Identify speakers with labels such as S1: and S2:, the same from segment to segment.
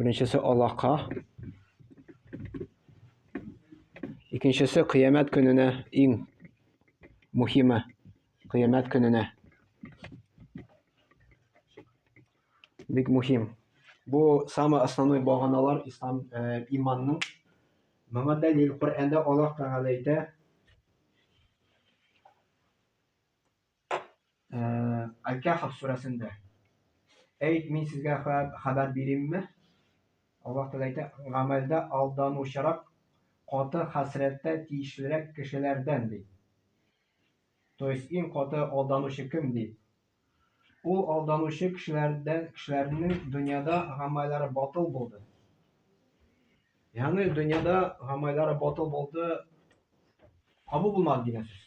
S1: Беренчесе алака. Икенчесе кыямәт көненә иң мөхиме кыямәт көненә. Бик мөхим. Бу самый основной баганалар ислам э, иманның. Моңа дәлил Коръәндә Аллаһ Тәгалә әйтә, Аль-Кәһф сүрәсендә. Әй, мин сезгә хәбәр бирим-ме? Аллаһ Тәгалә әйтә, Гамәлдә алданучырак, каты хәсрәткә тиешлерәк кешеләрдән, ди. То есть, иң каты алданучы кем, ди? Ул алданучы кешеләрдән, кешеләрнең дөньяда гамәлләре батыл булды. Ягъни, дөньяда гамәлләре батыл булды, кабул булмады дигән сүз.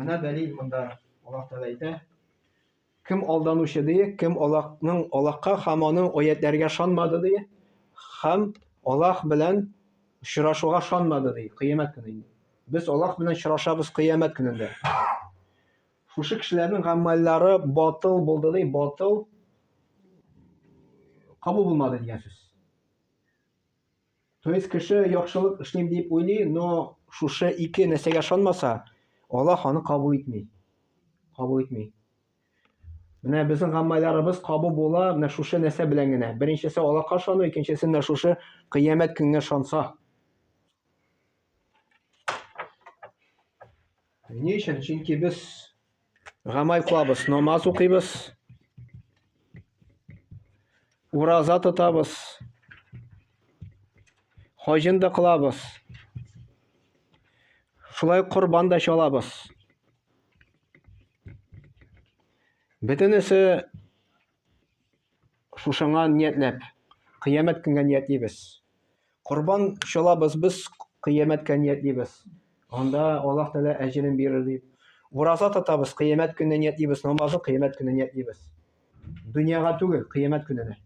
S1: Менә дәлил монда. Аллаһ Тәгалә әйтә, Кем алданучы дие, кем Аллаһның Аллаһка һәм аның аятләргә шанмады дие, һәм Аллаһ белән очрашуга шанмады дие, кыямәт көне инде. Без Аллаһ белән очрашабыз кыямәт көнендә. Шушы кешеләрнең гамәлләре батыл булды ди, батыл кабул булмады дигән сүз. То есть кеше яхшылык эшлим дип уйлый, но шушы ике нәрсәгә ышанмаса, Аллаһ аны кабул итми. Кабул итми. Менә безнең гаммайларыбыз кабу була менә шушы нәрсә белән генә. Беренчесе Аллаһка ышану, икенчесе менә шушы кыямәт көнгә ышанса. Ни өчен? Чөнки без Гамаль кылабыз, намаз укыйбыз, ураза тотабыз, хаҗын да кылабыз, шулай корбан да чалабыз. Бөтенесе Шушыңа ниятләп, кыямәт көнгә ниятлибез. Корбан чалабыз без, кыямәткә ниятлибез. Анда Аллаһ Тәгалә әҗерен бирер дип. Ураза тотабыз, кыямәт көненә ниятлибез, намазны кыямәт көненә ниятлибез. Дөньяга түгел, кыямәт көненә.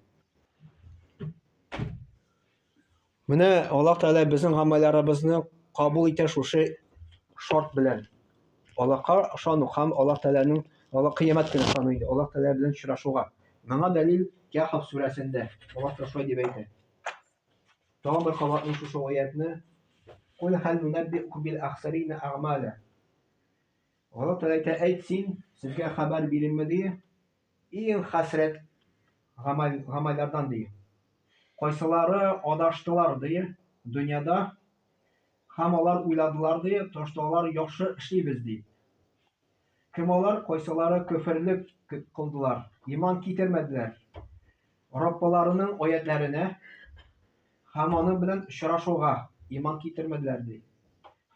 S1: Менә Аллаһ Тәгалә безнең гамәлләребезне кабул итә шушы шарт белән. Аллаһка ышану һәм Аллаһ Тәгаләнең Аллаһ кыямәт көне ышану инде, Аллаһ Тәгалә белән очрашуга. Моңа дәлил Кәһф сүрәсендә Аллаһ Тәгалә шулай дип әйтә. Тагын бер кабатлыйм шушы аятны. Кул хәл нунәббикум бил ахсарина әгъмәлә. Аллаһ Тәгалә әйтә, әйт син, сезгә хәбәр биренмеди, Иң хәсрәт гамәлләрдән, ди. Кайсылары адаштылар, ди, дөньяда, һәм алар уйладылар, ди, ташлалар яхшы эшлибез, дип. Кем алар? Кайсылары көферне кылдылар, иман китермәделәр, Раббыларының аятьләренә һәм аның белән очрашуга иман китермәделәр, ди.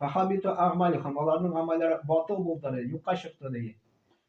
S1: Фахабиту әгъмалюһум, аларның гамәлләре батыл булды, ди, юкка чыкты, ди.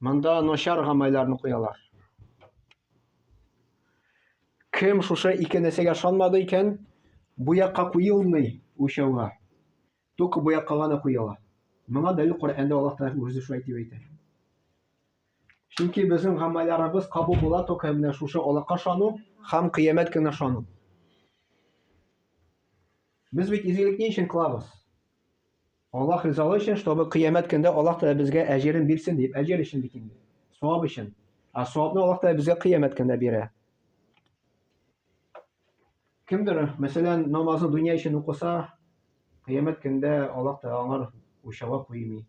S1: Монда начар гамайларны куялар. Кем шушы ике нәрсәгә ышанмады икән, буякка куелмый үлчәүгә. Только буякка гына куела. Моңа дәлил Коръәндә Аллаһ Тәгалә үзе шулай дип әйтә. Чөнки безнең гамәлләребез кабул була только менә шушы Аллаһка ышану һәм кыямәт көненә ышану. Без бит изгелек ни өчен кылабыз? Аллаһ ризалы өчен, чтобы кыямәт көндә Аллаһ Тәгалә безгә әҗерен бирсен дип, әҗер өчен бит инде. Савап өчен. Ә савапны Аллаһ Тәгалә безгә кыямәт көндә бирә. Кемдер, мәсәлән, намазны дөнья өчен укыса, кыямәт көндә Аллаһ Тәгалә аңар учава куймый.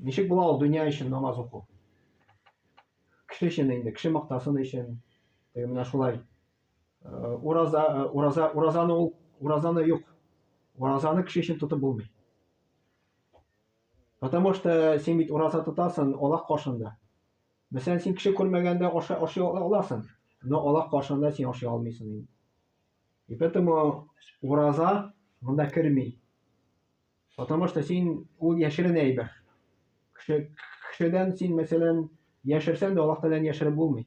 S1: Ничек була ул дөнья өчен намаз уку? Кеше өчен инде, кеше мактасын өчен. Менә шулай Ураза, ураза, уразаны ул, уразаны юк. Уразаны кеше өчен тотып булмый. Потому что син бит ураза тотасың Аллах каршында. Мәсәлән, син кеше күрмәгәндә ашый ашый аласың, но Аллах каршында син ашый алмыйсың инде. И поэтому ураза монда керми. Потому что син ул яшерен әйбер. Кеше кешедән син мәсәлән яшерсәң дә Аллаһ Тәгаләне яшереп булмый.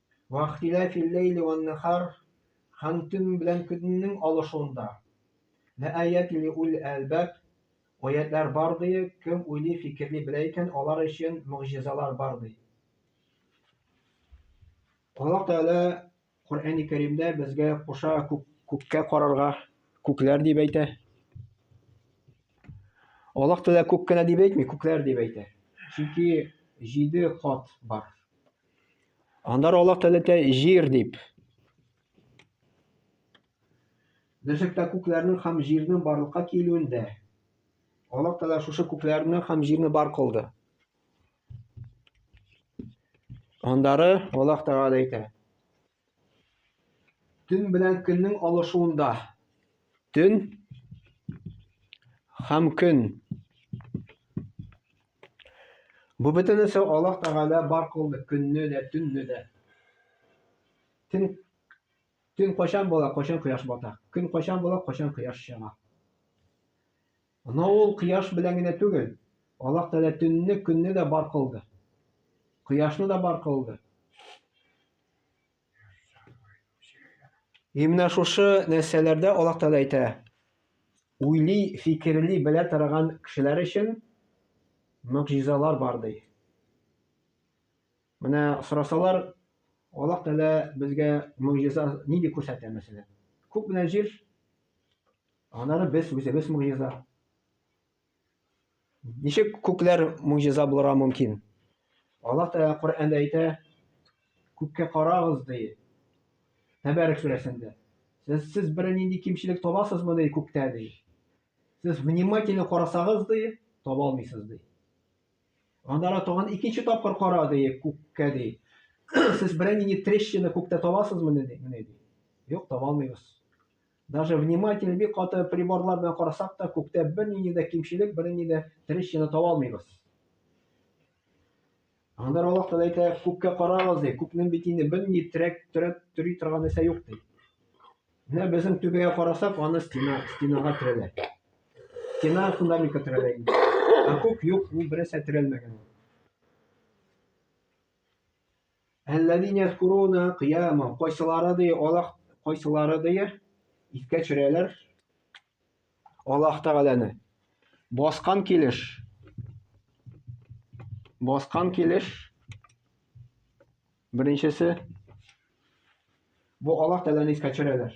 S1: Вахтилә филләйли ваннәһар, Һәм төн белән көннең алышуында. Ләәяти лиуллил әлбаб, Аятьләр бар, ди, кем уйлый, фикерли белә икән, алар өчен могҗизалар бар, ди. Аллаһ Тәгалә Коръәни Кәримдә безгә куша күк, күккә карарга, күкләр дип әйтә. Аллаһ Тәгалә күк кенә дип әйтми, күкләр дип әйтә. Чөнки җиде кат бар. Андар Аллаһ Тәләтә җир дип. Берчакта күкләрнең һәм җирнең барлыкка килүендә Аллаһ Тәлә шушы күкләрне һәм җирне бар кылды. Андары Аллаһ Тәгалә әйтә. Төн белән көннең алышуында. Төн һәм көн. Бу бөтенесе Аллаһ Тәгалә бар кылды, көнне дә, төнне дә. Төн Төн кайчан була, кайчан кояш бата. Көн кайчан була, кайчан кояш чыга. Анау ул кояш белән генә түгел, Аллаһ Тәгалә төнне, көнне дә бар кылды. Кояшны да бар кылды. И менә шушы нәрсәләрдә Аллаһ Тәгалә әйтә, уйлый, фикерли, белә торган кешеләр өчен мөгъҗизалар бар ди. Менә сорасалар, Аллаһ Тәгалә безгә мөгъҗиза нинди күрсәтә мәсәлән? Күк белән җир Аннары без үзебез могҗиза. Ничек күкләр могҗиза булырга мөмкин? Аллаһ Тәгалә Коръәндә әйтә, күккә карагыз ди. Тәбәрәк сүрәсендә. Сез сез бер нинди кимчелек табасызмы ди күктә ди. Сез внимательно карасагыз ди, таба алмыйсыз ди. Аннары тагын икенче тапкыр кара ди күккә ди. Сез бер нинди трещина күктә табасызмы ди? Юк, таба алмыйбыз. Даже вниматель бик каты приборлар белән карасак та, күктә бернинди дә кимчелек, бернинди дә трещина таба алмыйбыз. Анда Аллаһ Тәгалә әйтә, күккә карагыз ди, күкнең бит инде бернинди терәк, терәп төри торган нәрсә юк ди. Менә безнең түбәгә карасак, аны стена, стенага терәлә. Стена фундаментка терәлә инде. Ә күк юк, ул бернәрсә терәлмәгән. Әлләни яскуруна кыяма, кайсылары ди Аллаһ, кайсылары ди искә төшерәләр Аллаһ Тәгаләне. Баскан килеш. Баскан килеш. Беренчесе бу Аллаһ Тәгаләне искә төшерәләр.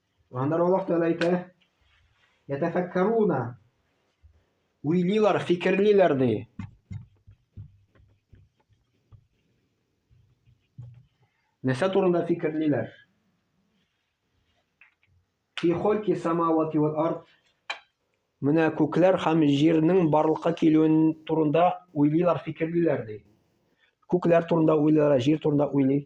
S1: Аннары Аллаһ Тәгалә әйтә, ятәфәккәруна уйлыйлар, фикерлиләр ди. Нәрсә турында фикерлиләр? Фи хольки самавати вал ард. Менә күкләр һәм җирнең барлыкка килүен турында уйлыйлар, фикерлиләр ди. Күкләр турында уйлыйлар, җир турында уйлый.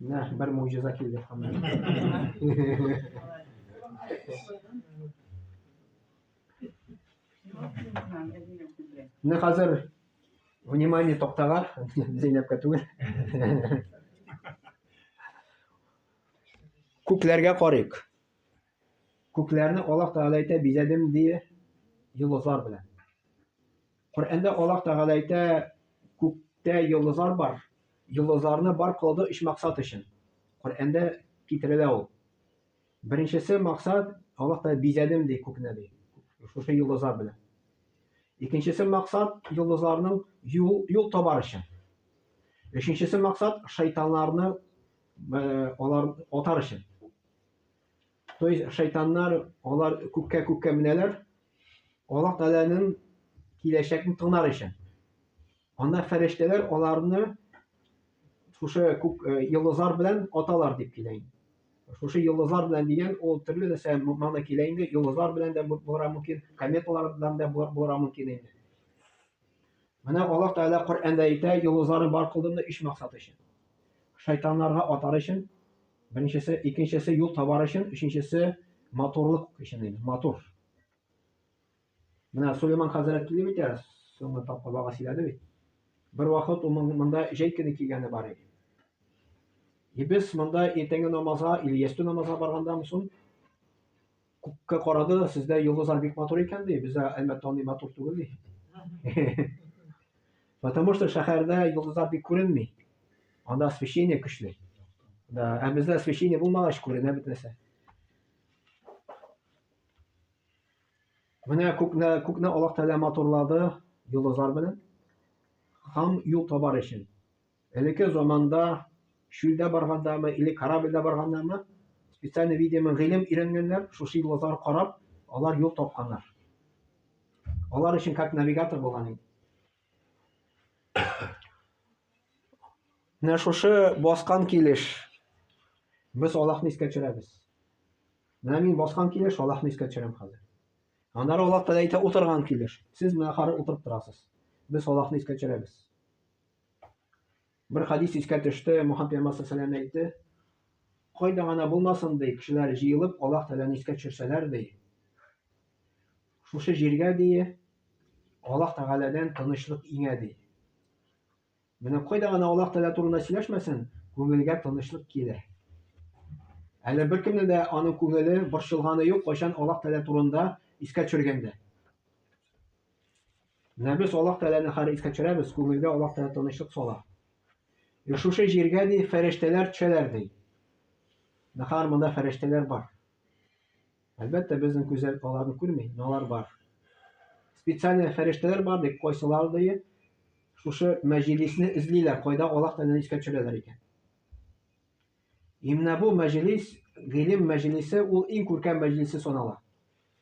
S1: Менә бер могҗиза килде хәммә. Менә хәзер внимание токтага, Зәйнәпкә түгел. Күкләргә карыйк. Күкләрне Аллаһ Тәгалә әйтә, бизәдем ди йолдызлар белән. Коръәндә Аллаһ Тәгалә әйтә, Күктә йолдызлар бар, йолдызларны бар кылды өч максат өчен. Коръәндә китерелә ул. Беренчесе максат, Аллаһ Тәгалә бизәдем ди күкне ди, шушы йолдызлар белән. Икенчесе максат, йолдызларның юл, юл табар өчен. Өченчесе максат, шайтаннарны алар атар өчен. То есть шайтаннар алар күккә күккә менәләр, Аллаһ Тәгаләнең киләчәкне тыңлар өчен. Анда фәрештәләр аларны шушы күк э, йолдызлар белән аталар дип килә инде. Шушы йолдызлар белән дигән ул төрле нәрсә мана килә инде. Йолдызлар белән дә булырга мөмкин, кометалар белән дә булырга мөмкин инде. Менә Аллаһ Тәгалә Коръәндә әйтә, йолдызларны бар кылдым өч максат өчен. Шайтаннарга атар өчен, беренчесе, икенчесе юл табар өчен, өченчесе матурлык өчен инде, матур. Менә Сулейман хәзрәт килде бит әле, соңгы тапкыр вага сөйләде бит. Бер вакыт ул монда җәй көне килгәне бар иде. И без монда иртәнге намазга или ястү намазга барганда мөсун күккә карады сездә йолдызлар бик матур икән ди бездә әлбәттә андый матур түгел ди потому что шәһәрдә йолдызлар бик күренми анда освещение көчле да ә бездә освещение булмагач күренә бит нәрсә менә күкне күкне аллаһ тәгалә матурлады йолдызлар белән һәм юл табар өчен Элекке заманда чүлдә баргандамы или корабльдә баргандамы, специально видимо гыйлем өйрәнгәннәр, шушы йолдызларга карап, алар юл тапканнар. Алар өчен как навигатор булган инде. Менә шушы баскан килеш без Аллаһны искә төшерәбез. Менә мин баскан килеш Аллаһны искә төшерәм хәзер. Аннары Аллаһ Тәгалә әйтә утырган килеш. Сез менә хәзер утырып торасыз. Без Аллаһны искә төшерәбез. Бер хәдис искә төште, Мухаммед пәйгамбәр саллаллаһу алейһи әйтте, кайда гына булмасын, ди, кешеләр җыелып, Аллаһ Тәгаләне искә төшерсәләр, ди, шушы җиргә, ди, Аллаһ Тәгаләдән тынычлык иңә, ди. Менә кайда гына Аллаһ Тәгалә турында сөйләшмәсен, күңелгә тынычлык килә. Әле беркемнең дә аның күңеле борчылганы юк, кайчан Аллаһ Тәгалә турында искә төшергәндә. Менә без Аллаһ Тәгаләне хәл искә төшерәбез, күңелгә Аллаһ Тәгалә тынычлык сала. И шушы җиргә ди фәрештәләр төшәләр ди. Нахар монда фәрештәләр бар. Әлбәттә, безнең күзәл аларны күрми, но алар бар. Специальный фәрештәләр бар ди, кайсылар ди, шушы мәҗлисне эзлиләр, кайда Аллаһ Тәгаләне искә төшерәләр икән. Именно бу мәҗлис, гыйлем мәҗлисе, ул иң күркәм мәҗлисе санала.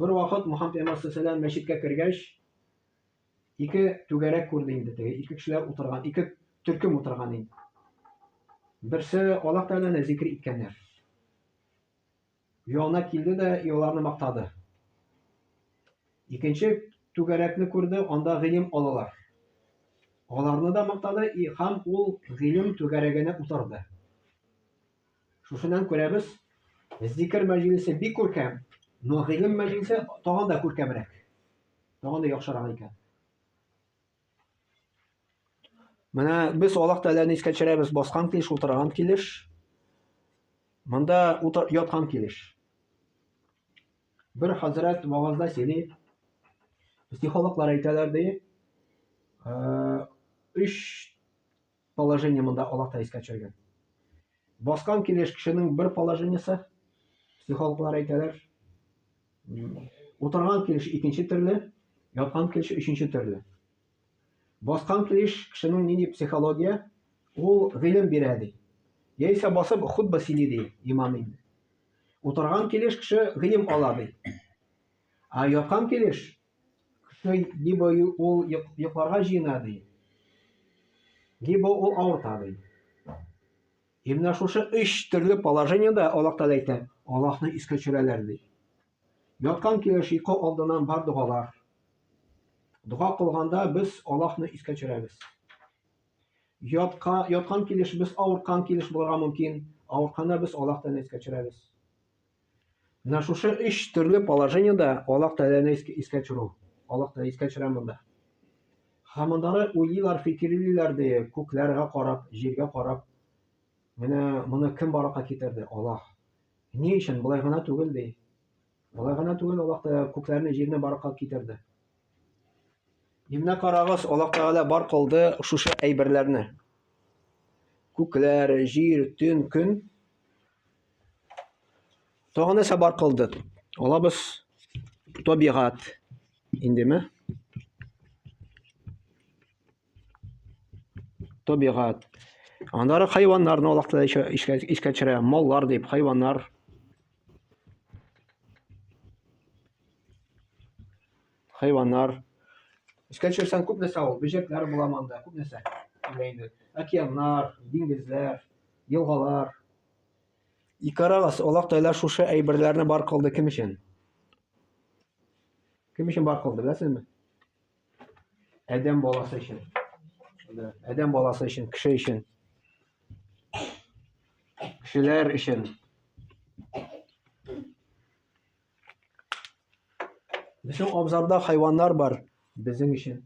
S1: Бер вакыт Мухаммед пәйгамбәр саллаллаху мәчеткә кергәч, ике түгәрәк күрде инде теге, ике кешеләр утырган, ике төркем утырган инде. Берсе Аллаһ Тәгаләне зикр иткәннәр. Янына килде дә и аларны мактады. Икенче түгәрәкне күрде, анда гыйлем алалар. Аларны да мактады и һәм ул гыйлем түгәрәгенә утырды. Шушынан күрәбез, зикер мәҗлесе бик күркәм, но гыйлем мәҗлесе тагын да күркәмрәк. Тагын да яхшырак икән. Менә без Аллаһ Тәгаләне искә төшерәбез, баскан килеш, утырган килеш. Монда утыр, яткан килеш. Бер хәзрәт вагазда сөйли, психологлар әйтәләр ди, өч Положение монда Аллаһ та искә төшергән. Баскан килеш кешенең бер положениесе, психологлар әйтәләр, утырган килеш икенче төрле, яткан килеш өченче төрле. Баскан килеш кешенең нинди психология, ул гыйлем бирә ди. Яисә басып хутба сөйли ди имам инде. Утырган килеш кеше гыйлем ала ди. А яткан килеш Шөй, либо ул йокларга җыена ди, либо ул авырта ди. И менә шушы өч төрле положениедә Аллаһ Тәгалә әйтә, Аллаһны искә төшерәләр ди. Яткан килеш йокы алдыннан бар догалар. Дога кылганда без Аллаһны искә төшерәбез. Ятка, яткан килеш без авырткан килеш булырга мөмкин. Авыртканда без Аллаһ Тәгалә искә төшерәбез. Менә шушы өч төрле положениедә Аллаһ Тәгаләне искә төшерү. Аллаһ Тәгалә искә төшерә монда. Һәм мондагы уйлыйлар, фикерлиләр ди, күкләргә карап, җиргә карап. Менә моны кем баракка китерде? Аллаһ. Ни өчен болай гына түгел ди? Болай гына түгел Аллаһ Тәгалә күкләрне, җирне баракка китерде. Менә карагыз, Аллаһ Тәгалә бар кылды шушы әйберләрне. Күкләр, җир, төн, көн. Тагы нәрсә бар калды? Алабыз табигат. Индеме? Табигат. Аннары хайваннарны алакта искә төшерә. Маллар дип, хайваннар. Хайваннар. Искә төшерсәң күп нәрсә ул. Бөҗәкләр була монда, күп нәрсә. Океаннар, диңгезләр, елгалар. И карагыз, Аллаһ Тәгалә шушы әйберләрне бар кылды кем өчен? Кем өчен бар кылды, беләсезме? Адәм баласы өчен. Адәм баласы өчен, кеше өчен. Кешеләр өчен. Безнең абзарда хайваннар бар, безнең өчен.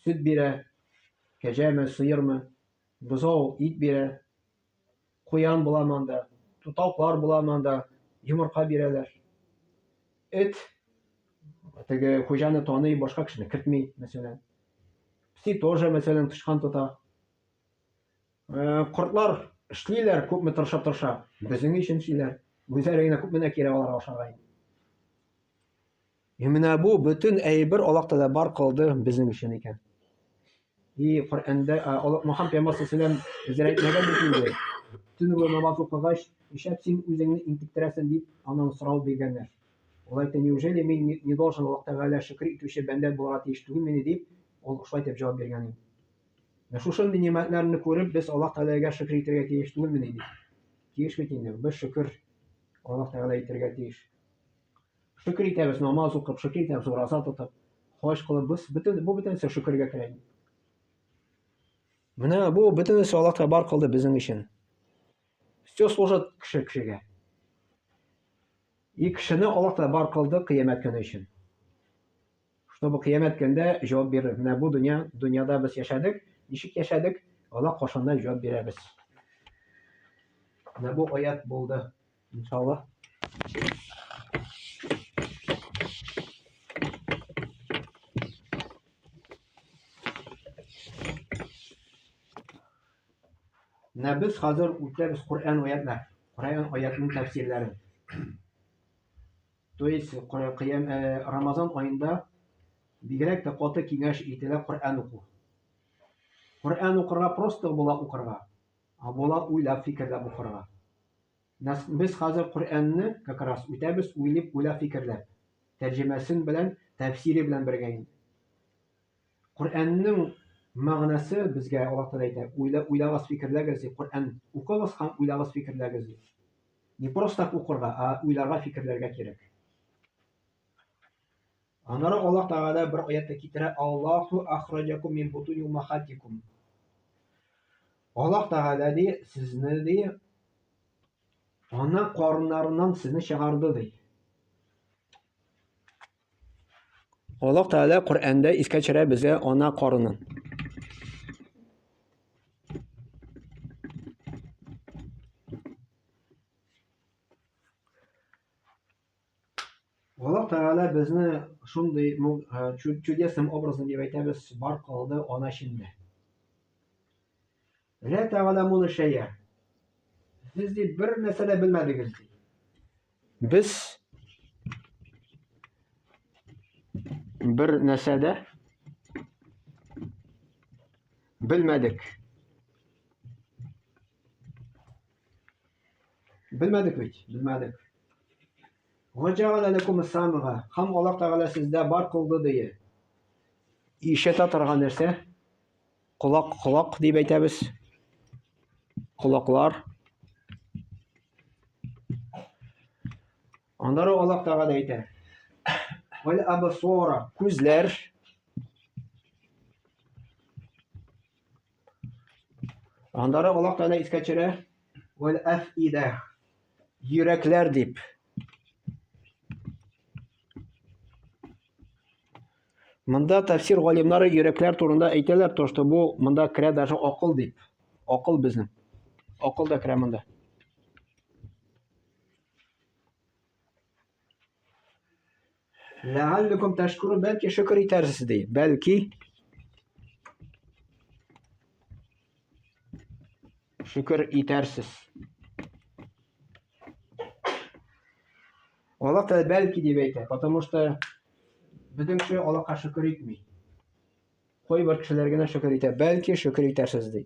S1: Сөт бирә, кәҗәме, сыермы, Бозау ит бирә, куян буламы анда, тутаклар буламы анда, йомырка бирәләр. Эт теге хуҗаны таный, башка кешене кертми, мәсәлән. Пси тоже, мәсәлән, тычкан тота. Э, кортлар эшлиләр, күпме тырышып тырыша, безнең өчен эшлиләр. Үзләре генә күпме кирәк аларга ашарга инде. И менә бу бөтен әйбер Аллаһ Тәгалә бар кылды безнең өчен икән. И Коръәндә Аллаһ Мөхәммәд пәйгамбәр саллаллаһу алейһи ва әйтмәгән Төн буе намаз укыгач, нишләп син үзеңне интектерәсең дип, аннан сорау биргәннәр. Ул әйтте, неужели мин не должен Аллаһ Тәгалә шөкер итүче бәндә булырга тиеш түгелмени дип, ул шулай дип җавап биргән иде. Менә шушы нимәтләрне күреп, без Аллаһ Тәгаләгә шөкер итәргә тиеш түгелмени дип. Тиеш бит инде, без шөкер Аллаһ Тәгалә итәргә тиеш. Шөкер итәбез, намаз укып, шөкер итәбез, ураза тотып, хаҗ кылып, без бөтен бу бөтенесе шөкергә керә инде. Менә бу бөтенесе Аллаһ Тәгалә бар кылды безнең өчен. Все служит кеше кешегә. И кешене Аллаһ Тәгалә бар кылды кыямәт көне өчен. Чтобы кыямәт көндә җавап бирер. Менә бу дөнья, дөньяда без яшәдек, ничек яшәдек, Аллаһ кашанда җавап бирәбез. Менә бу аят булды. İnşallah. Менә без хәзер үтәбез Коръән аятьләр, Коръән аятының тәфсирләрен. То есть Коръән э, Рамазан аенда бигрәк тә каты киңәш ителә Коръән уку. Коръән укырга просто була укырга. А була уйлап фикерләп укырга. Нас, без хәзер Коръәнне как раз үтәбез уйлип уйлап фикерләп. Тәрҗемәсен белән, тәфсире белән бергә инде. Коръәннең мәгънәсе безгә Аллаһ Тәгалә әйтә, уйла, уйлагыз, фикерләгез ди. Коръән укыгыз һәм уйлагыз, фикерләгез ди. Не просто так укырга, а уйларга, фикерләргә кирәк. Аннары Аллаһ Тәгалә бер аятта китерә, Аллаһу ахраҗакум мин бутуни умахатикум. Аллаһ Тәгалә ди, сезне ди, ана карыннарыннан сезне чыгарды ди. Аллаһ Тәгалә Коръәндә искә төшерә безгә ана карынын. Аллаһ Тәгалә безне шундый чудесным образом дип әйтәбез, бар кылды ана эчендә. Лә тәгаламуны шәя. Сез ди бер нәрсә дә белмәдегез ди. Без бер нәрсә дә белмәдек. Белмәдек бит, белмәдек. Ваджагала ләкум самга. Хам Аллаһ Тәгалә сездә бар кылды дие. Ишәтә торган нәрсә? Колак, колак дип әйтәбез. Колаклар. Аннары Аллаһ Тәгалә әйтә. Вал абсора, күзләр. Аннары Аллаһ Тәгалә искә төшерә, "Вәл афида" йөрәкләр дип. Монда тәфсир галимнары йөрәкләр турында әйтәләр, то что бу монда керә даже акыл дип. Акыл безнең. Акыл да керә монда. Ләгалликум тәшкуру бәлки шөкер итәрсез ди. Бәлки шөкер итәрсез. Аллаһ Тәгалә бәлки дип әйтә, потому что безнең кеше Аллаһка шөкер итми. Кайбер кешеләр генә шөкер итә, бәлки шөкер итәрсез ди.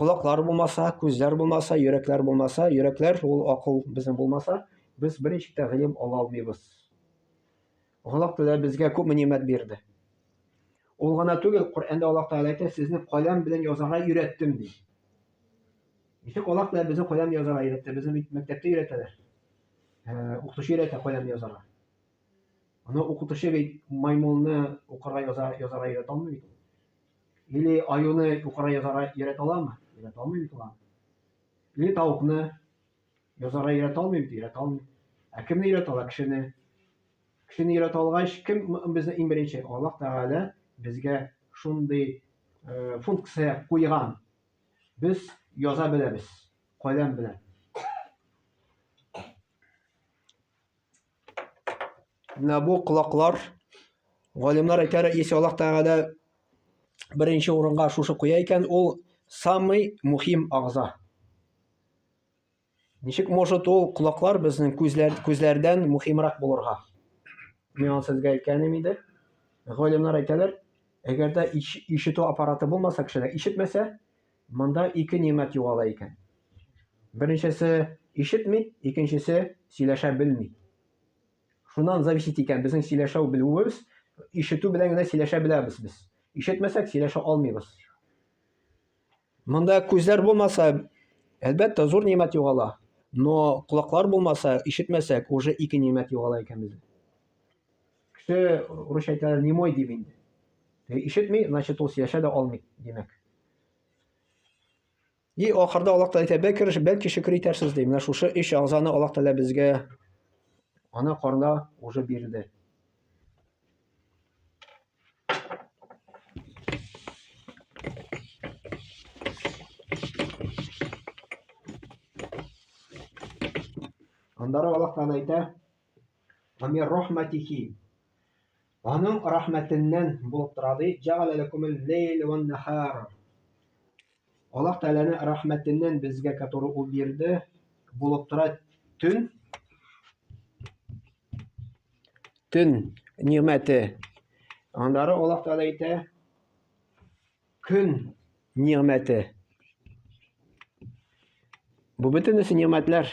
S1: Колаклар булмаса, күзләр булмаса, йөрәкләр булмаса, йөрәкләр ул акыл безнең булмаса, без берничек тә гыйлем ала алмыйбыз. Аллаһ Тәгалә безгә күпме нимәт бирде. Ул гына түгел, Коръәндә Аллаһ Тәгалә әйтә, сезне каләм белән язарга өйрәттем ди. Ничек Аллаһ Тәгалә безне каләм язарга өйрәтте? Безне бит мәктәптә өйрәтәләр. Э, укытучы өйрәтә каләм язарга. Аны укытучы бит маймылны укырга яза язарга өйрәтә алмый бит. Или аюны юкара язара өйрәтә аламы? Өйрәтә алмый бит ул. Или тавыкны язара өйрәтә алмый бит, өйрәтә алмый. Ә кемне өйрәтә ала? Кешене. Кешене өйрәтә алгач, кем безне иң беренче? Аллаһ Тәгалә безгә шундый э, функция куйган. Без яза беләбез, каләм белән. Менә бу колаклар галимнар әйтәр, если Аллаһ Тәгалә беренче урынга шушы куя икән, ул самый мухим агза. Ничек может ул колаклар безнең күзләр, күзләрдән мухимрак булырга? Мин аны сезгә әйткәнем иде. Галимнар әйтәләр, әгәр дә ишетү аппараты булмаса кешедә, ишетмәсә, Монда ике нигъмәт югала икән. Беренчесе, ишетми, икенчесе, сөйләшә белми. Шуннан зависит икән безнең сөйләшәү белүебез, ишетү белән генә сөйләшә беләбез без. Ишетмәсәк, сөйләшә алмыйбыз. Монда күзләр булмаса, әлбәттә, зур нигъмәт югала. Но колаклар булмаса, ишетмәсәк, уже ике нигъмәт югала икән бездә. Кеше русча әйтәләр, немой дип инде. Ишетми, значит, ул сөйләшә дә алмый, димәк. И ахырда Аллаһ Тәгалә әйтә, бәлки, бәлки шөкер итәрсез ди. Менә шушы өч агъзаны Аллаһ Тәгалә безгә ана карында уже бирде. Аннары Аллаһ Тәгалә әйтә, "Ва рахматихи" Аның рәхмәтеннән булып тора, ди, Җәгалә ләкумул ләйлә уән-нәһар. Аллаһ Тәгаләнең рәхмәтеннән безгә, который Ул бирде, булып тора төн, төн нигъмәте. Аннары Аллаһ Тәгалә әйтә, көн нигъмәте. Бу бөтенесе нигъмәтләр.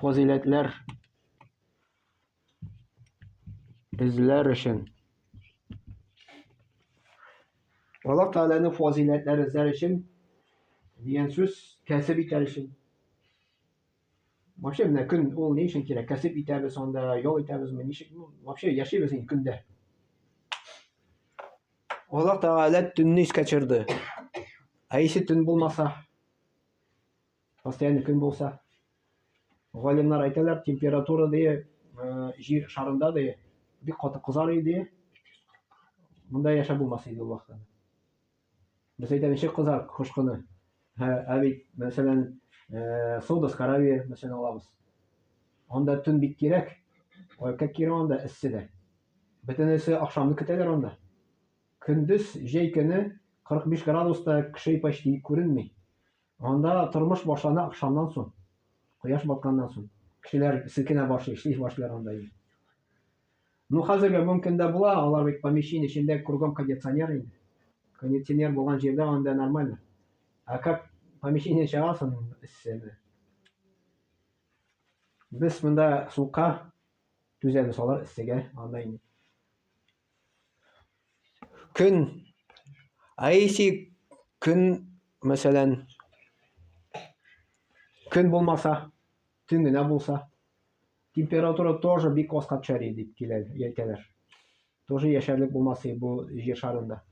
S1: Фазиләтләр эзләр өчен Аллаһ Тәгаләне фазиләтләр эзләр өчен дигән сүз кәсеп итәр өчен. Вообще менә көн ул ни өчен кирәк? Кәсеп итәбез анда, ял итәбезме, ничек? Ну, вообще яшибез инде көндә. Аллаһ Тәгалә төнне искә төшерде. Ә ише төн булмаса, постоянно көн булса, галимнар әйтәләр, температура дие, э, җир шарында дие, бик каты кызар иде. Монда яшәп булмас иде ул вакытта. Без әйтәбез, ничек кызар кош кыны? Һә, ә бит, мәсәлән, э, Саудовская Аравия, мәсәлән, алабыз. Анда төн бик кирәк. Ой, как кирәк анда эссе дә. Бөтенесе ахшамны көтәләр анда. Көндез җәй көне 45 градуста кеше почти күренми. Анда тормыш башлана ахшамнан соң. Кояш батканнан соң. Кешеләр селкенә башлый, эшли башлыйлар анда. Ну хәзергә мөмкин дә була, алар бит помещение эчендә кругом кондиционер инде. Кондиционер булган җирдә анда нормально. Ә как помещение чыгасың эсседе. Без монда сука түзәбез, алар эссегә анда инде. Көн Айси көн мәсәлән көн булмаса, төн генә булса, Температура тоже бик аска төшәр дип килә әйтәләр. Тоже яшәрлек булмас бу җир шарында.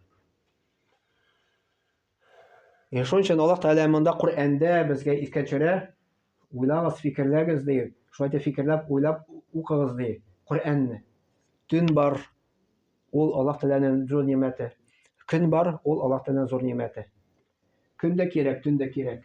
S1: Е шуның өчен Аллаһ Тәгалә монда Коръәндә безгә искә төшерә, уйлагыз, фикерләгез ди. Шулай итеп фикерләп, уйлап укыгыз ди Коръәнне. Төн бар, ул Аллаһ Тәгаләнең зур нимәте. Көн бар, ул Аллаһ Тәгаләнең зур нимәте. Көн дә кирәк, төн дә кирәк.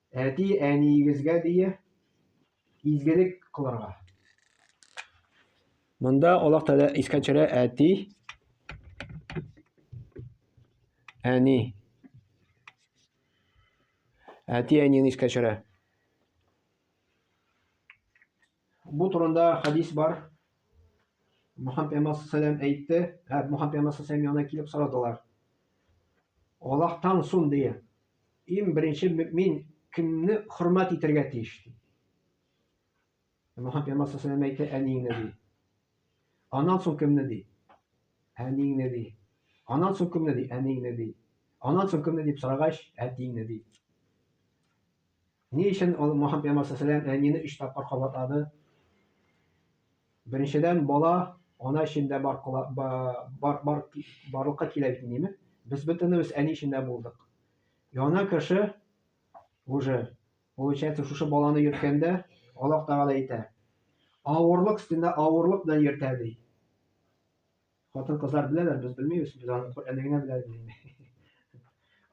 S1: Әти әниегезгә дия изгелек кылырга. Монда Аллаһ Тәгалә искә төшерә әти әни. Әти әнине искә төшерә. Бу турында хәдис бар. Мөхәммәд пәйгамбәр сәлам әйтте, ә Мөхәммәд пәйгамбәр сәлам янына килеп сорадылар. Аллаһтан сон дия. Ин беренче мөмин кемне хөрмәт итәргә тиеш ди. Мөхәммәд пәйгамбәр сәлам әйтте, әниеңне ди. Аннан сон кемне ди? Әниеңне ди. Аннан сон кемне ди? Әниеңне ди. Аннан сон кемне дип сорагач, әтиеңне ди. Ни өчен ул Мохаммед пәйгамбәр сәләм әнине өч тапкыр кабатлады? Беренчедән, бала ана эчендә бар, бар, бар, барлыкка килә бит, диме? Без бөтенебез әни эчендә булдык. Яна кеше уже получается шушы баланы йөрткәндә Аллаһ Тәгалә әйтә. Авырлык өстендә авырлык белән йөртә ди. Хатын кызлар беләләр, без белмибез, без аны Коръәндә генә беләбез инде.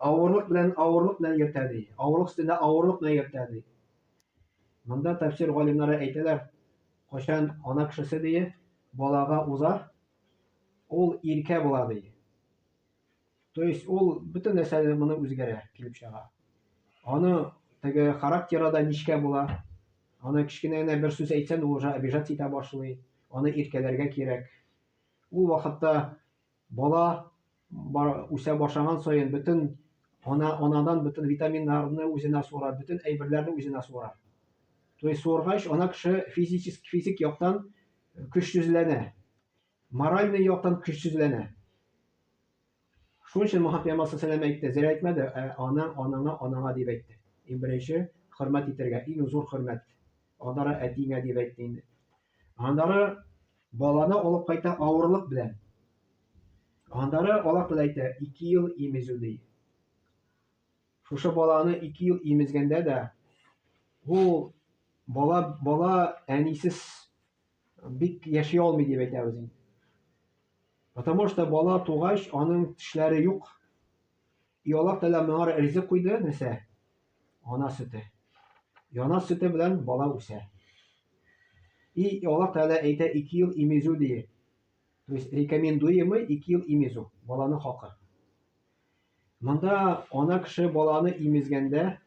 S1: Авырлык белән авырлык белән йөртә ди. Авырлык өстендә авырлык белән йөртә ди. Монда тәфсир галимнары әйтәләр, кайчан ана кешесе ди, балага уза, ул иркә була ди. То есть ул бөтен нәрсә моны үзгәрә, килеп чыга. Аны теге характеры да нечкә була. Аны кечкенә генә бер сүз әйтсәң, ул уже обижаться итә башлый. Аны иркәләргә кирәк. Ул вакытта бала бар, үсә башлаган саен бөтен ана анадан бөтен витаминнарны үзенә суырар, бөтен әйберләрне үзенә суырар. То есть суыргач, ана кеше физически физик яктан көчсезләнә, моральный яктан көчсезләнә. Шуның өчен Мухаммад пәйгамбәр сәләм әйтте, зря әйтмәде, ә ана, анаңа, анаңа дип әйтте. Иң беренче хөрмәт итәргә, иң зур хөрмәт. Аннары әтиңә дип әйтте инде. Аннары баланы алып кайта авырлык белән. Аннары алар кыз әйтә, 2 ел имезү ди. Шушы баланы 2 ел имезгәндә дә ул бала бала әнисез Бик яши алмый дип әйтәбез инде. Потому что бала тугач, аның тешләре юк. И Аллаһ Тәгалә моңа ризык куйды, нәрсә? Ана сөте. Яна сөте белән бала үсә. И Аллаһ Тәгалә әйтә, ике ел имезү дие. То есть рекомендуемый ике ел имезү, баланың хакы. Монда ана кеше баланы имезгәндә,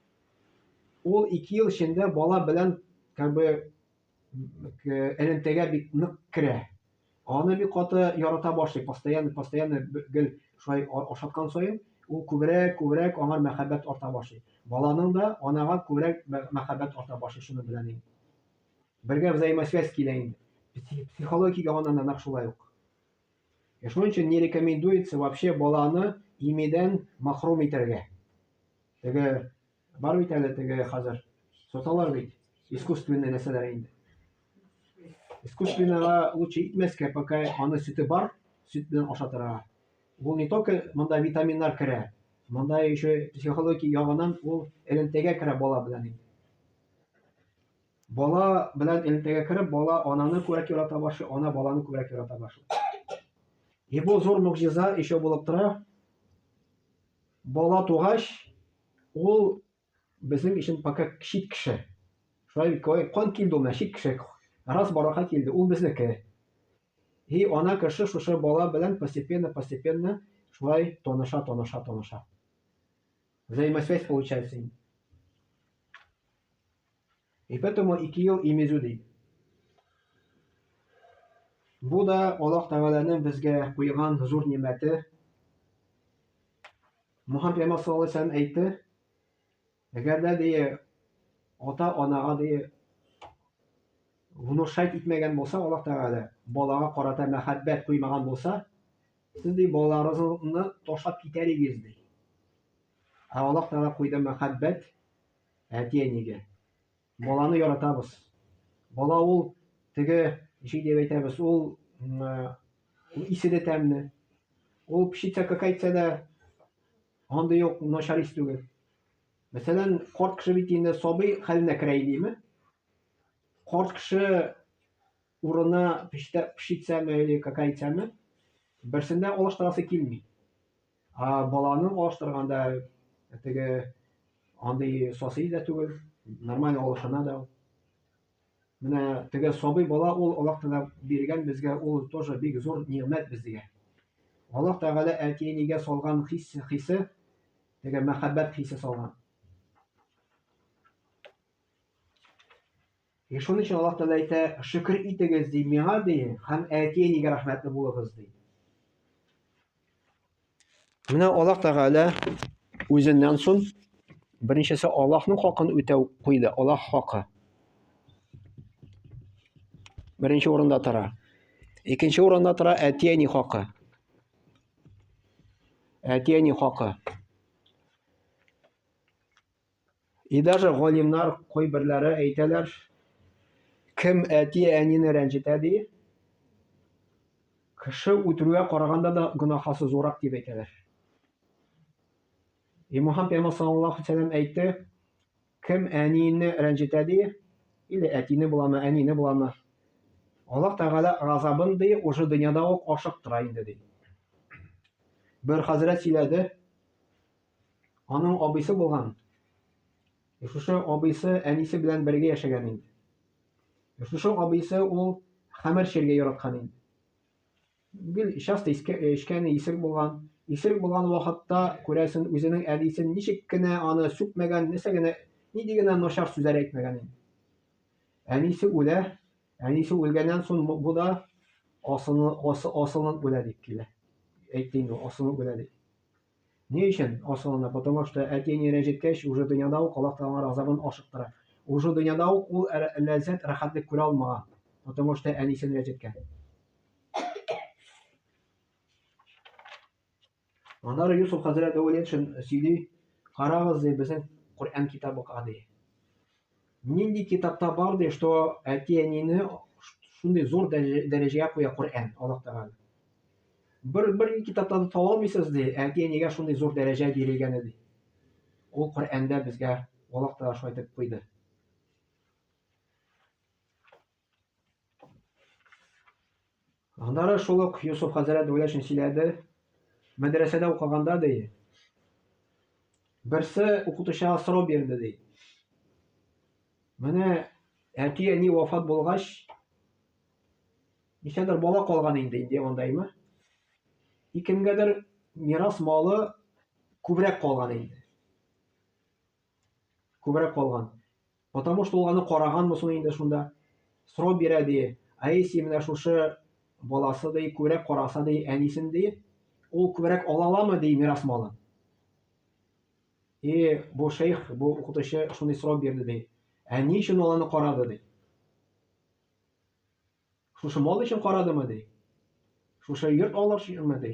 S1: ул ике ел эчендә бала белән как бы элемтәгә бик нык керә. Аны бик каты ярата башлый, постоянно, постоянно гел шулай ашаткан саен, ул күбрәк, күбрәк аңар мәхәббәт арта башлый. Баланың да анага күбрәк мәхәббәт арта башлый шуны белән инде. Бергә взаимосвязь килә инде. Психологик ягыннан да нәкъ шулай ук. Ә шуның өчен не рекомендуется вообще баланы имидән махрум итәргә. Теге Бар бит әле теге хәзер. Соталар бит. Искусственный нәрсәләр инде. Искусственного лучше итмәскә, пока аны сөте бар, сөт белән ашатырга. Ул не только монда витаминнар керә, монда еще психология ягынан ул элемтәгә керә бала белән инде. Бала белән элемтәгә кереп, бала ананы күрәк ярата башлый, ана баланы күрәк ярата башлый. И бу зур могҗиза еще булып тора. Бала тугач, ул безнең өчен пока чит кеше. Шулай бит, кан килде ул менә чит кеше. Раз барака килде, ул безнеке. И ана кеше шушы бала белән постепенно-постепенно шулай таныша-таныша-таныша. Взаимосвязь получается инде. И поэтому ике ел и мезу ди. Бу да Аллаһ Тәгаләнең безгә куйган зур нимәте. Мухаммед Пәйгамбәр саллаллаһу алейһи ва сәлләм әйтте, әгәр дә ди ата-анага ди внушать итмәгән булса Аллаһ Тәгалә, балага карата мәхәббәт куймаган булса, сез ди балаларыгызны ташлап китәр идегез ди. Ә Аллаһ Тәгалә куйды мәхәббәт Әти-әнигә. Баланы яратабыз. Бала ул теге ничек дип әйтәбез, ул исе дә тәмле. Ул пшица какайтса да андый ук начар ис түгел. Мәсәлән, корт кеше бит инде сабый хәленә керә идеме? Корт кеше Урыны пештә пешитсәме или какайтсәме, берсендә алыштырасы килми. Ә баланың алыштырганда теге андый соси дә түгел, нормаль алышына да. Менә теге сабый бала ул Аллаһ Тәгалә биргән безгә ул тоже бик зур нигъмәт безгә. Аллаһ Тәгалә әтиенигә салган хис хисе, теге мәхәббәт хисе салган. И шуның өчен Аллаһ Тәгалә әйтә, шөкер итегез, ди, миңа, ди, һәм әти-әнигә рәхмәтле булыгыз, ди. Менә Аллаһ Тәгалә үзеннән соң беренчесе Аллаһның хакын үтәү куйды, Аллаһ хакы. Беренче урында тора. Икенче урында тора әти-әни хакы. Әти-әни хакы. И даже галимнар кайберләре әйтәләр, кем әти-әнине рәнҗетә ди, кеше үтерүгә караганда да гөнаһасы зурак дип әйтәләр. И Мухаммад пәйгамбәр саллаллаху алейһи вәсәлләм әйтте, кем әнине рәнҗетә ди, или әтине буламы, әнине буламы, Аллаһ Тәгалә газабын ди, уже дөньяда ук ашыктыра инде ди. Бер хәзрәт сөйләде, Аның абыйсы булган. Шушы абыйсы әнисе белән бергә яшәгән инде. Шушы абыйсы ул хәмер чергә яраткан инде. Гел часто эчкәне исерек булган. Исерек булган вакытта, күрәсен, үзенең әнисен ничек кенә аны сүкмәгән, нәрсә генә, нинди генә начар сүзләр әйтмәгән инде. Әнисе үлә, әнисе үлгәннән соң бу да асылынып үлә дип килә. Әйтте инде, асылынып үлә дип. Ни өчен асылына? Потому что әти-әни рәнҗеткәч, уже дөньяда ук Аллаһ Тәгаләнең газабын ашыктыра. Уже дөньяда ук ул ләззәт, рәхәтлек күрә алмаган. Потому что әнисен рәнҗеткән. Аннары Юсуф хәзрәт Әүлиятшин сөйли, карагыз, ди, безнең Коръән китабыга, ди. Нинди китапта бар ди, что әти-әнине шундый зур дәрәҗәгә куя Коръән, Аллаһ Тәгалә. Бер бер китапта да таба алмыйсыз ди, әти-әнигә шундый зур дәрәҗә бирелгәне ди. Ул Коръәндә безгә Аллаһ Тәгалә шулай дип куйды. Аннары шул ук Йосыф хәзрәт Вәләшин сөйләде. Мәдрәсәдә укыганда ди. Берсе укытучыга сорау бирде ди. Менә әти әни вафат булгач, ничәдер бала калган инде инде андаймы? И кемгәдер мирас малы күбрәк калган инде. Күбрәк калган. Потому что ул аны караганмы соң инде шунда. Срок бирә ди. Ә если менә шушы баласы ди, күбрәк караса ди, әнисен ди, ул күбрәк ала аламы ди мирас малын? И бу шейх, бу укытучы шундый срок бирде ди. Ә ни өчен ул аны карады ди? Шушы мал өчен карадымы ди? Шушы йорт алыр өченме ди?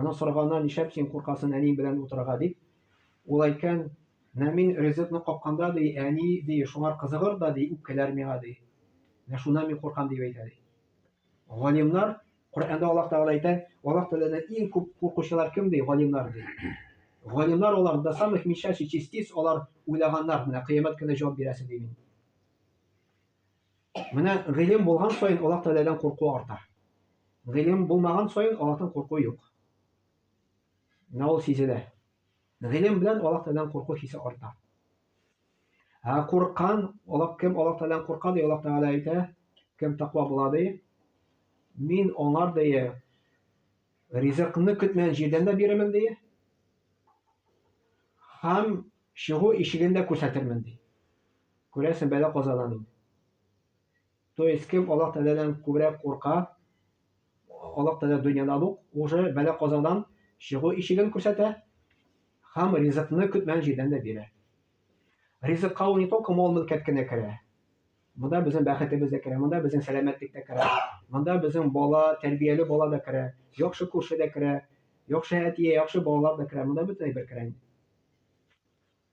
S1: Аның сораганына нишәп син куркасын әни белән утырырга дип. Ул әйткән, менә мин ризыкны капканда ди, әни ди, шуңар кызыгыр да ди, үпкәләр миңа ди. Менә шуннан мин куркам дип әйтә ди. Галимнар Коръәндә Аллаһ Тәгалә әйтә, Аллаһ Тәгаләдән иң күп куркучылар кем ди? Галимнар ди. Галимнар алар до самых мечащих частиц, алар уйлаганнар, менә кыямәт көне җавап бирәсең ди мин. Менә гыйлем булган саен Аллаһ Тәгаләдән курку арта. Гыйлем булмаган саен Аллаһтан курку юк. Менә ул сизелә. Гыйлем белән Аллаһ Тәгаләдән курку хисе арта. Ә курккан, Аллаһ кем Аллаһ Тәгаләдән курка ди, Аллаһ Тәгалә әйтә, кем таква була ди, мин аңар ди ризыкны көтмәгән җирдән дә бирермен ди. Һәм чыгу ишеген дә күрсәтермен ди. Күрәсең бәла казадан инде. То есть кем Аллаһ Тәгаләдән күбрәк курка, Аллаһ Тәгалә дөньяда ук уже бәла казадан чыгу ишеген күрсәтә һәм ризыкны көтмәгән җирдән дә бирә. Ризыкка ул не только мал-мөлкәт кенә керә, монда безнең бәхетебез дә керә, монда безнең сәламәтлек тә керә, монда безнең бала, тәрбияле бала да керә, яхшы күрше дә керә, яхшы әтие, яхшы балалар да керә, монда бөтен әйбер керә.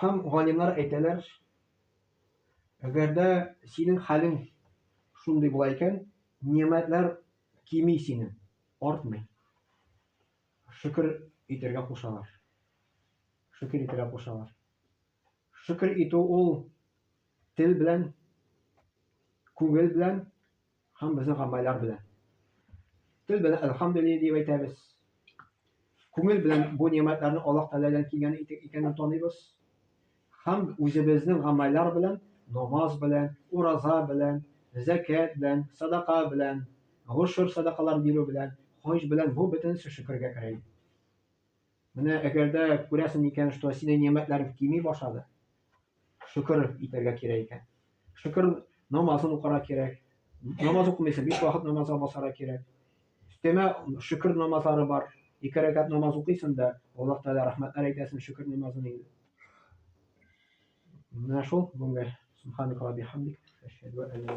S1: Һәм галимнар әйтәләр, әгәр дә синең хәлең шундый була икән, нимәтләр кими синең, артмый. Шөкер итәргә кушалар. Шөкер итәргә кушалар. Шөкер итү ул тел белән, күңел белән Һәм безнең гамәлләр белән. Тел белән әлхәмдүлилләһ дип әйтәбез. Күңел белән бу нигъмәтләрне Аллаһ Тәгаләдән килгән икәнен таныйбыз. Һәм үзебезнең гамәлләр белән, намаз белән, ураза белән, зәкят белән, садака белән, гошер садакалар бирү белән, хаҗ белән бу бөтенесе шөкергә керә. Менә әгәр дә күрәсең икән, что синең нигъмәтләрең кими башлады, шөкер итәргә кирәк икән. Шөкер намазын укырга кирәк. Намаз укымыйсың, биш вакыт намазга басарга кирәк. Өстәмә шөкер намазлары бар. Ике рәкәт намаз укыйсың да, Аллаһ Тәгалә рәхмәтләр әйтәсең шөкер намазын инде. Менә шул бүгенге субханак ва бихамдик, әшһәду ан ла